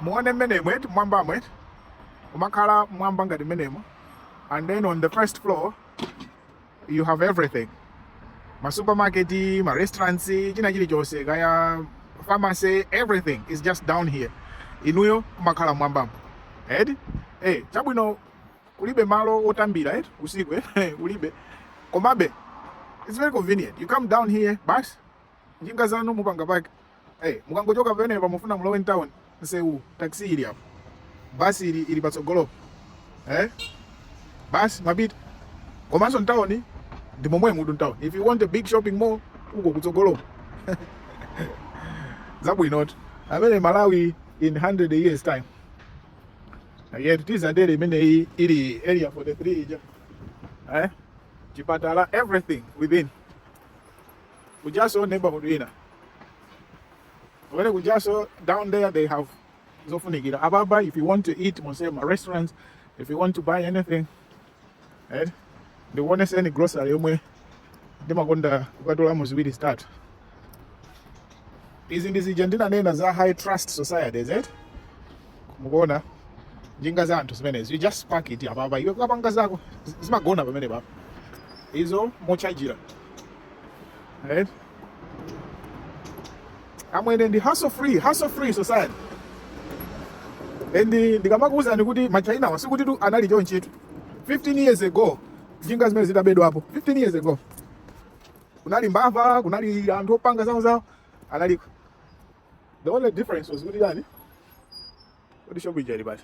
muone mmenemo mwambamo umakhala mwamba ngati mmenemo and then on the first floor you have everything ma supermarket ma restaurants china chilichonse kaya pharmacy everything is just down here inuyo kumakhala mwambamo eti eh chabwino kulibe malo otambira eti eh, usiku eh kulibe komabe it's very convenient you come down here basi njinga zanu mupanga pake Hey, mukangochoka pamenepa mufuna mulowe mtown msewu taxi ili apo bus ili ili patsogolopo eh bus imapita komanso mtown ndi momwemutu mtown if you want a big shopping mall uko kutsogolopo zabwinotu amene malawi in 100 years time yet tidzadere imeneyi ili area 43 ija eh chipatala everything within kujanso neighborhood ina amene kujanso down there they have zofunikira apapa if you want to eat muli ma restaurants if you want to buy anything right ndikuoneseni grocery yomwe ndimakonda kukatolamo ziwiri zitatu izi ndi zija ndinanena za high trust society is it mukuona njinga za anthu zimenezi you just park it apapa iwe kapanga zako zi- zimagona pamenepapa izo mochajira Right? amwene ndi hassle free hassle free society and ndikamakuwuzani kuti machainawa sikutitu anali chonchitu 15 years ago njinga zimenezi zitabedwapo 15 years ago kunali mbava kunali anthu opanga zawo zawo analiko the only difference was kuti chani kuti shop ija ili basi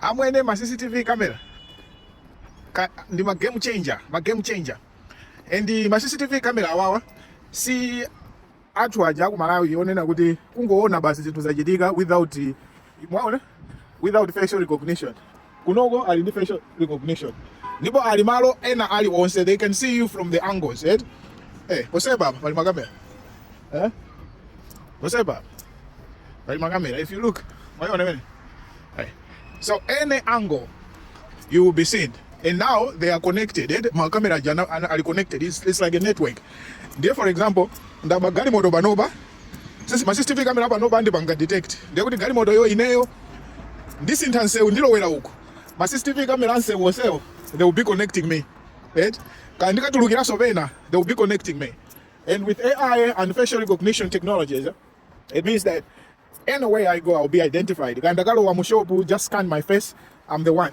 amwene ma cctv camera ka, ndi ma game changer ma game changer and ma cctv camera awawa si atchu aja aku malawi onena kuti kungoona basi zinthu zachitika without mwaona without facial recognition kunoko ali ndi facial recognition ndipo ali malo ena ali onse they can see you from the angles eh eh poseba apa pali makamera eh poseba apa pali makamera if you look mwayiona mene eh so any angle you will be seen and now they are connected eh makamera jana ana- ali connected it's, it's like a network ndiye for example ndaba galimoto panopa Ma CCTV camera apanopa akandipanga detect ndiye kuti galimotoyo ineyo ndisintha msewu ndilowera uku ma CCTV camera amsewu onsewo they will be connecting me right? kaya ndikatulukiranso pena they will be connecting me and with AI and facial recognition technologies it means that anywhere I go I will be identified kaya ndakalowa mu shop they just scan my face I'm the one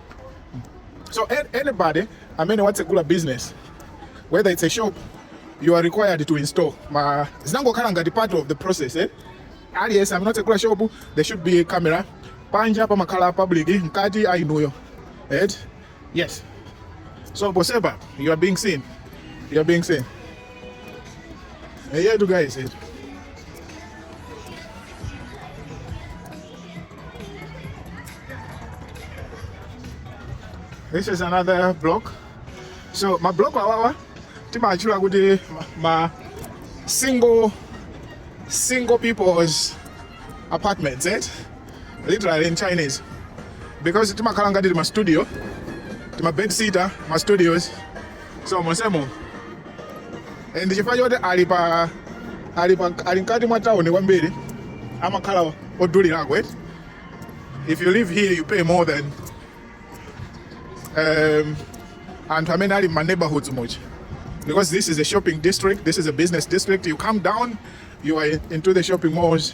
So anybody amene watsegula business whether it's a shop you are required to install ma zinangokhala ngati part of the process eh? aliyense amene watsegula shop there should be a camera panja pamakhala public mkati ainuyo right? yes so ponsepa you are being seen you are being seen eyetu guys etu This is another block. So ma block awawa timachula kuti ma single single people's apartments, eh? Literally in Chinese. Because timakhala ngati ma studio, ma bed sitter, ma studios. so monsemo Eh, ndi chifukwa choti ali pa ali pa ali mkati mwa town kwambiri amakhala odulirako if you live here you pay more than um, anthu amene ali m'ma neighborhoods much because this is a shopping district this is a business district you come down you are into the shopping malls